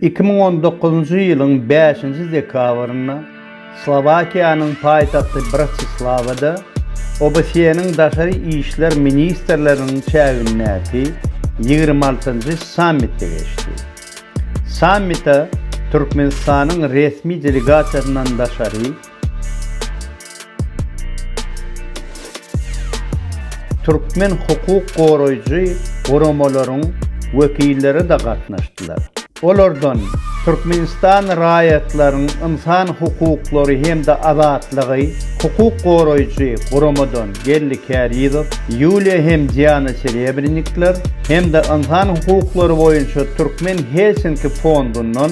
Iki müň on dokuzynjy ýylyň bäşinji dekabrynda Slowakiýanyň paýtagty Bratislawada OBSE-niň daşary işler ministrleriniň çägindäki ýigrimi altynjy sammiti geçdi. Sammite Türkmenistanyň resmi delegasiýasyndan daşary, Türkmen hukuk goraýjy guramalaryň wekilleri-de gatnaşdylar. Olardan Türkmenistan raýatlaryň ynsan hukuklary hem-de azatlygy hukuk goraýjy guramadan Geldi Kärizow, Ýuliýa hem Diana Serebrennikler hem-de ynsan hukuklary boýunça Türkmen Helsinki fondundan